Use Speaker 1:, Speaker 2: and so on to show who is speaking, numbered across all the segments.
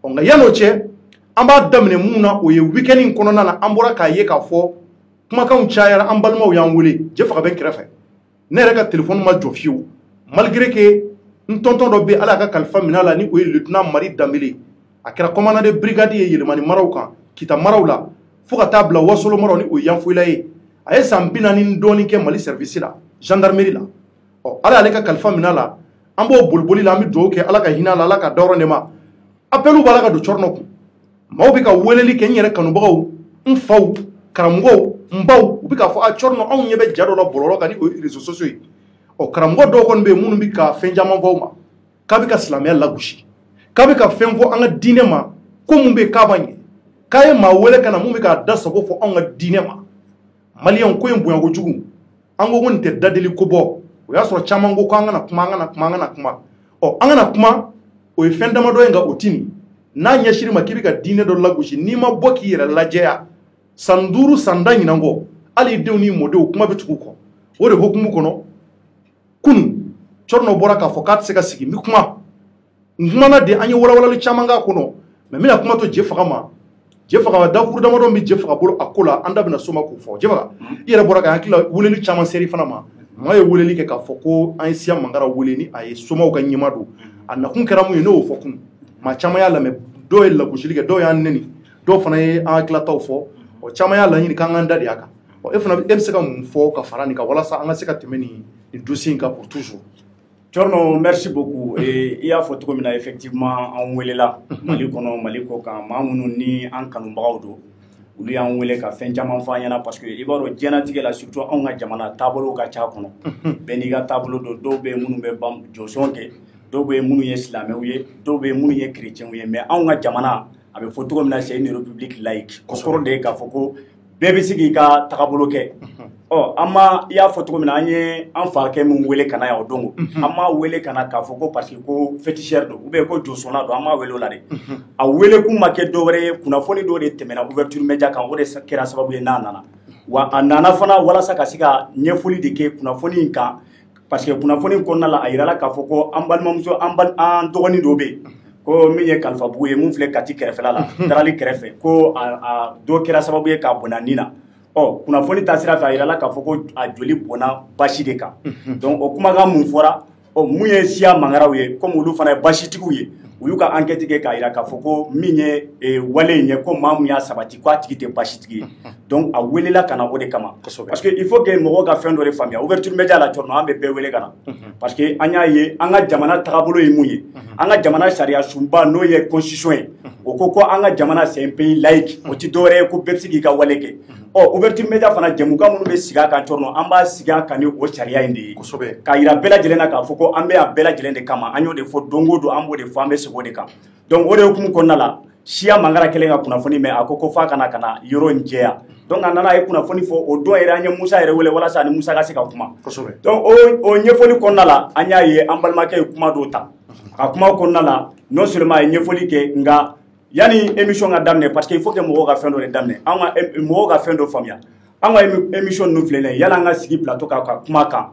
Speaker 1: ɔ nka yan'o cɛ an b'a daminɛ mun na o ye weekend in kɔnɔna na an bɔra k'a ye k'a fɔ kumakanw cayara an balimaw y'an wele jefaga bɛ n kɛrɛfɛ ne yɛrɛ ka telefɔni ma jɔ fiyewu malgré que n tonton dɔ bɛ ala y'a ka kalifa minɛ a la ni o ye lieutenant mari danbele a kɛra commandant de brigade ye yɛlɛmani maraw kan kita maraw la fo ka taa bila wasolo maraw ni o ye yanfoyila ye a ye san bi naani ni dɔɔni kɛ mali service la gendarmerie la ɔ ala y'ale ka kalifa minɛ a la an b'o boliboli la an bɛ dugawu kɛ ala ka hinɛ a la ala ka dayɔrɔ nɛɛma apɛliw b'a la ka don cɔrɔnɔ kun maaw bɛ ka weleli kɛ n yɛrɛ kanubagaw n faw karamɔgɔw n baw u bɛ k'a fɔ a cɔrɔnɔ anw ɲɛ bɛ ja dɔ la bɔlɔlɔ kan ni o ye réseaux sociaux ye ɔ karamɔgɔ dɔw kɔni bɛ yen minnu bɛ ka fɛn caman fɔ aw ma k'a bɛ ka silamɛya lagosi k'a bɛ ka fɛn fɔ an ka diinɛ ma ko mun bɛ yen k'a b'a ɲɛ k'a ye maa wele ka na mun bɛ k'a da sago fɔ anw ka diinɛ ma maliyɛnw ko in bonya kojugu an ko ko nin tɛ dadeli ko bɔ o y'a sɔrɔ caman ko ko an kana kuma an kana kuma an kana kuma ɔ an kana kuma o ye fɛn damadɔ ye nka o ti nin n'a ɲɛsiri ma k'i bɛ ka diinɛ dɔ lagosi n'i ma bɔ k'i yɛrɛ lajɛya san duuru san tan ɲinan kɔ hali i denw n'i mɔdenw kuma bɛ tugu kɔ o de hokumu kɔnɔ kunu cɔrɔnɔ bɔra k'a fɔ k'a tɛ se ka sigi n bɛ kuma n kumana de an ye walawalali caman k'a kɔnɔ mais n bɛna kuma to jefaga ma jefaga dakuru damadɔ bɛ jefaga bolo a ko la an da bɛna s'o ma k'o fɔ jefaga i yɛrɛ bɔra ka hakili la weleli caman ser'i fana ma maa ye weleli kɛ k'a fɔ ko an ye siya mangara wele ni a ye somaw ka ɲɛmaa don a nakun kɛra mun ye ne y'o fɔ kun maa caman y'a lamɛn dɔw ye lagosili kɛ dɔw y'an neni dɔw fana ye an hakilataw fɔ ɔ caman y'a laɲini k'an k'an da de a kan ɔ e fana e bɛ se ka mun fɔ ka fara nin kan walasa an ka se ka tɛmɛ nin nin dossier in kan pour toujours Cɔrɔnɔ
Speaker 2: merci beaucoup i y'a fɔ cogo min na effectivement an weelela mali kɔnɔ mali kɔkan maa minnu ni an kanubagaw don olu y'an weele ka fɛn caman fɔ an ɲɛna parce que i b'a dɔn diɲɛlatigɛ la surtout anw ka jamana taabolo ka ca kɔnɔ bɛɛ n'i ka taabolo don dɔw bɛ minnu bɛ bɛ josɔn kɛ dɔw bɛ minnu ye silamɛw ye dɔw bɛ minnu ye kerecɛnw ye mais anw ka jamana a bɛ fɔ cogo min na c'est une république laïque o kɔrɔ de ye k'a fɔ ko bɛɛ bɛ se k'i ka tagabolo kɛ ɔ an ma i y'a fɔ cogo min na an ye an fakɛ min wele ka na yan o don an m'a wele ka na k'a fɔ ko parce que ko féticheur don ou bien ko josɔnna don an m'a wele o la de a wele kun ma kɛ dɔwɛrɛ ye kunnafoni dɔ de tɛmɛna ouverture média kan o de kɛra sababu ye n'a nana wa a nana fana walasa ka se ka ɲɛfɔli de kɛ kunnafoni in kan parce que kunnafoni kɔnɔna la a yirala k'a fɔ ko an balimamuso an an dɔgɔnin dɔ bɛ yen ko min ye kalifabugu ye mun filɛ kati kɛrɛfɛla la darali kɛrɛfɛ ko a dɔ kɛra sababu ye k'a bɔnɛ a ni na ɔ kunnafoni ta sira fɛ a yirala k'a fɔ ko a joli bɔnna basi de kan donc o kumakan mun fɔra ɔ mun ye siya mangaraw ye comme olu fana ye basitigiw ye u y'u ka enquête kɛ k'a yira k'a fɔ ko min ye wale in ye ko maa mun y'a sabati ko a tigi tɛ basitigi ye donc a welela ka na o de kama parce que il faut que mɔgɔw ka fɛn dɔ de faamuya ouverture média la cɔrɔnɔ an bɛ bɛɛ wele ka na mhm. parce que an y'a ye an ka jamana tagabolo ye mun ye mhm. an ka jamana sariya sunba n'o ye constitution ye mhm. o ko ko an ka jamana c'est un pays laïque o ti dɔwɛrɛ ye ko bɛɛ bɛ se k'i ka wale kɛ ɔ ouverture média fana jɛmukan minnu bɛ sigi a kan cɔrɔnɔ an b'a sigi a kan ni o sariya in de ye k'a yira bɛɛ lajɛlen na k'a fɔ ko an bɛ yan bɛɛ lajɛlen de kama an y'o de fɔ don o don an b'o de fɔ an bɛ segin o de kan donc o de hukumu kɔnɔna la siya mangara kɛlen ka kunnafoni mɛn a ko ko f'a ka na ka na yɔrɔ in jɛya donc a nana a ye kunnafoni fɔ o don yɛrɛ an ye musa yɛrɛ wele walasa a ni musa ka se ka kuma donc o o ɲɛfɔli kɔnɔna la an y'a ye an balimakɛ ye kuma dɔw ta ka kuma kɔnɔna la non seulement a ye ɲɛfɔli kɛ nka yanni émission ka daminɛ parce que il faut que mɔgɔw ka fɛn dɔ de daminɛ an ka mɔgɔw ka fɛn dɔ faamuya an ka émission ninnu filɛ nin ye yala an ka sigi plateau kan ka kuma kan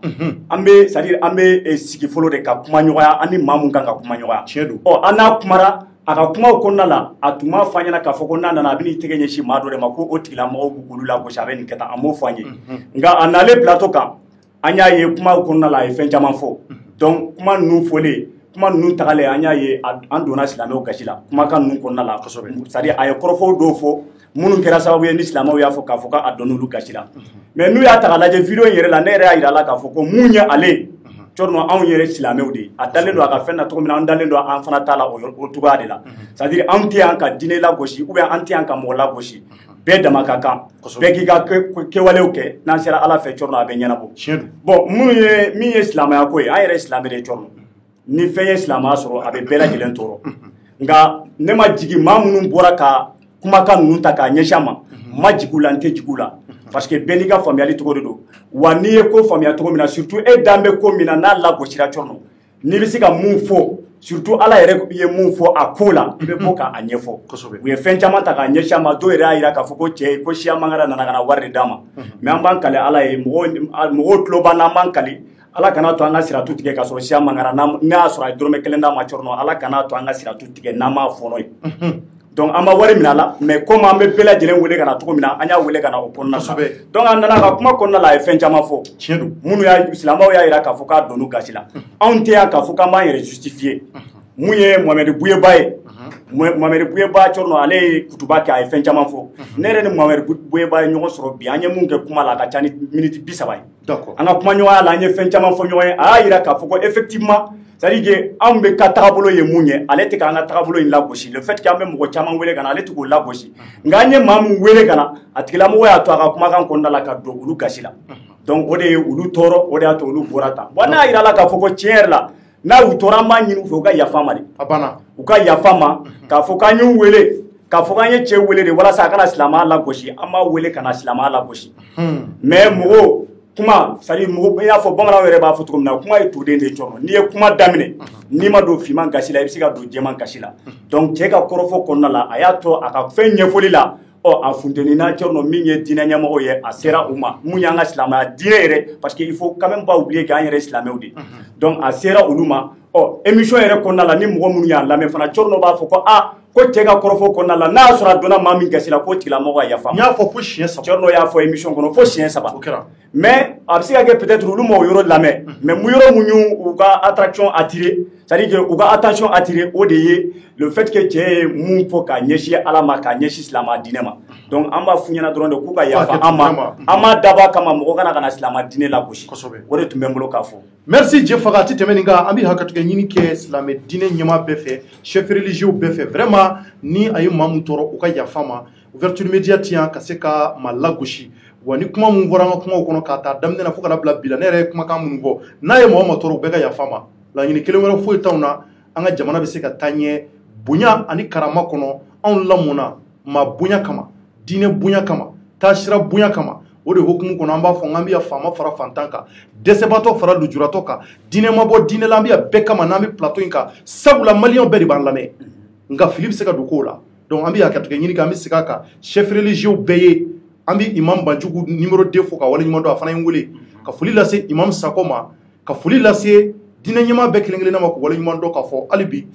Speaker 2: an bɛ c'est à dire an bɛ eh, sigi fɔlɔ de ka kuma ɲɔgɔnya an ni maa mun kan ka kuma ɲɔgɔnya tiɲɛ don ɔ an n'a kumara a ka kumaw kɔnɔna la a tun m'a fɔ an ɲɛna k'a fɔ ko n'a nana a bɛ n'i tɛgɛ ɲɛsin maa dɔ de ma ko o tigilamɔgɔw b'u k'olu lagosi a bɛ nin kɛ tan a m'o fɔ an ye nka a nalen plateau kan an y'a ye kuma kɔnɔna la a ye fɛn caman fɔ donc kuma ninnu fɔlen kuma ninnu tagalen an y'a ye an donna silamɛw gasi la kumakan ninnu kɔnɔna la kosɛbɛ c'est à dire a ye kɔrɔfɔw dɔw fɔ minnu kɛra sababu ye ni silamɛw y'a fɔ k'a fɔ k'a donna olu gasi la mais n'u y'a ta k'a lajɛ video in yɛrɛ la ne yɛrɛ y'a yira a la k'a fɔ ko mun ye ale ye cɔrɔnɔ anw yɛrɛ silamɛw de ye a dalen don a ka fɛn na cogo min na an dalen don an fana ta la o cogoya de la c'est à dire anw tɛ yan ka diinɛ lagosi ou bien an tɛ yan ka mɔgɔ lagosi bɛɛ dama ka kan bɛɛ k'i ka kɛwalew kɛ n'an sera ala fɛ cɔrɔnɔ a bɛ ɲɛnabɔ bon min ye silamɛya ko ye an yɛrɛ silamɛ de cɔrɔnɔ ni fɛn ye silamɛya sɔrɔ a bɛ bɛɛ lajɛlen tɔɔrɔ nka ne ma jigin maa minnu bɔra ka kumakan ninnu ta k'a ɲɛsin a ma n ma jigin u la n tɛ jigin u la parce que bɛɛ n'i ka faamuyali cogo de don wa n'i ye ko faamuya cogo min na surtout e dan bɛ ko min na n'a lagosira cɔrɔnɔ n'i bɛ se ka mun fɔ surtout ala yɛrɛ ye mun fɔ a ko la i bɛ bɔ k'a ɲɛfɔ u ye fɛn caman ta k'a ɲɛsin a ma dɔw yɛrɛ y'a jira k'a fɔ ko cɛ ko siya mangara nana ka na wari de d'an ma mais an b'an kali ala ye mɔgɔw tulo b'an na an b'an kali ala kana to an ka siratu tigɛ k'a sɔrɔ siya mangara n'a sɔrɔ a ye dɔrɔmɛ kelen d'an ma cɔrɔnɔ ala kana to an ka siratu tigɛ n'an m'a fɔɔnɔ yen donc an ma wari minɛ a la mais comme an bɛ bɛɛ lajɛlen wele ka na cogo min na an y'a wele ka na o kɔnɔna la donc a nana ka kuma kɔnɔna la a ye fɛn caman fɔ tiɲɛ don minnu
Speaker 1: silamɛw y'a
Speaker 2: jira k'a fɔ k'a donn'u gasi la anw tɛ yan k'a fɔ k'an b'an yɛrɛ justifier mun ye mohamɛdi buyeba ye mohamɛdi buyeba cɔrɔnɔ ale ye kutuba kɛ a ye fɛn caman fɔ ne yɛrɛ ni mohamɛdi buyeba ye ɲɔgɔn sɔrɔ bi an ye mun kɛ kuma la a ka ca ni miniti bi saba ye an ka kuma ɲɔgɔnya la an ye fɛn caman fɔ ɲɔgɔn ye a y'a yira k'a fɔ ko effectivement c'est-à-dire que anw bɛɛ ka tagabolo ye mun ye ale tɛ k'an ka tagabolo in lagosi le fait que an bɛ mɔgɔ caman wele ka na ale tɛ k'o lagosi nka an ye maa min wele ka na a tigilamɔgɔ y'a to a ka kumakan kɔnɔna la ka don olu gasi la donc o de ye olu tɔɔrɔ o de y'a to olu bɔra tan bon n y'a yira a la k'a fɔ ko tiɲɛ yɛrɛ la n'a y'u tɔɔrɔ an b'a ɲini u fɛ u ka yafa ma de a banna u ka yafa ma mhm. k'a fɔ k'an y'u wele k'a fɔ k'an ye cɛ wele de walasa a ka na silamɛya lagosi an m'a wele ka na silamɛya lagosi mhm. mais mɔgɔw kuma c'est à dire mɔgɔ i y'a fɔ bamananw yɛrɛ b'a fɔ cogo min na kuma ye tuden de cɛrnɔ n'i ye kuma daminɛ mhm. n'i ma don finman gasi la i bɛ se ka don jɛman gasi la donc cɛ ka kɔrɔfɔ kɔnɔna la a y'a to a ka fɛn ɲɛfɔli la ɔ a funteni na cɛrnɔ min ye diinɛ ɲɛmɔgɔ ye a sera u ma mun y'an ka silamɛya diinɛ yɛrɛ parce que il faut quand même pas oublier k'an yɛrɛ silamɛw de donc a sera olu ma ɔ émission yɛrɛ kɔnɔna la ni mɔgɔ minnu y'a lamɛn fana cɛrnɔ b'a fɔ ko a ko cɛ ka kɔrɔfɔ kɔnɔna la n'a y'a sɔrɔ a donna maa min gasi la k'o tigilamɔgɔ ka yafa n y'a fɔ fo siɲɛ saba
Speaker 1: cɛrnɔ y'a fɔ émission kɔnɔ
Speaker 2: fo siɲɛ saba o kɛra
Speaker 1: mais a bɛ se
Speaker 2: ka kɛ peut-être olu ma o yɔrɔ lamɛn mais mu yɔrɔ mun y'u u ka attraction attirer c'est à dire que u ka attention attirer o de ye le fait que cɛ ye mun fɔ k'a ɲɛsin ala ma k'a ɲɛsin silamɛ diinɛ ma donc an b'a f'u ɲɛna dɔrɔn de k'u ka yafa an ma an m'a dabɔ a kama mɔgɔ ka na ka na silamɛ diinɛ lagosi kosɛbɛ o de tun bɛ n bolo k'a fɔ merci jefaga a
Speaker 1: tɛ tɛmɛ nin kan an bɛ hakɛtigɛ ɲini kɛ silamɛ diinɛ ɲɛmaa bɛɛ fɛ chef religieux bɛɛ fɛ vraiment ni a ye maa mun tɔɔrɔ u ka yafa ma ouverture media tɛ yan ka se ka maa lagosi wa ni kuma mun fɔra an ka kumaw kɔnɔ k'a ta daminɛ na fo ka na bila bi la ne yɛrɛ ye kumakan minnu fɔ n'a ye mɔgɔ ma tɔɔrɔ u bɛɛ ka yafa ma laɲini kelen wɛrɛ foyi t'anw na an ka jamana bɛ se ka taa ɲɛ bonya ani karama kɔnɔ anw lamɔna maa bonya kama diinɛ bonya kama taasira bonya kama o de hokumu kɔnɔ an b'a fɔ k'an bɛ yan faama fara fantan kan dɛsɛbatɔ fara lujuratɔ kan diinɛ ma bɔ diinɛ la an bɛ yan bɛɛ kama n'an bɛ plateau in kan sabula maliyɛnw bɛɛ de b'an lamɛn nka fili bɛ se ka don kow la donc an bɛ hakɛtigɛ ɲini kɛ an bɛ segin a kan chef religieux bɛɛ ye an bɛ imam banjugu numéro 2 fo k'a waleɲuman dɔn a fana ye n wele ka foli lase imam sakɔ ma ka foli lase diinɛ ɲɛmaa bɛɛ kelen kelenna ma k'u waleɲuman dɔn k'a fɔ hali bi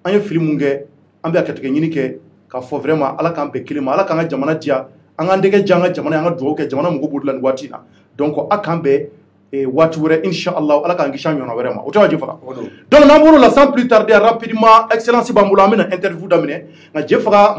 Speaker 1: an ye fili mun kɛ an bɛ hakɛtigɛ ɲini kɛ k'a fɔ vraiment ala k'an bɛn kelen ma ala k'an ka jamana diya an k'an dɛgɛ diya an ka jamana an ka dugawu kɛ jamana mago b'o de la nin waati in na donc an k'an bɛn ee waati wɛrɛ inshallah ala k'an kisi a ɲɔgɔnna wɛrɛ ma o tɛ wa jefaga donc n'an bɔr'o la sans plus tarder rapidement excellence b'an bolo an bɛna interview daminɛ nka jefaga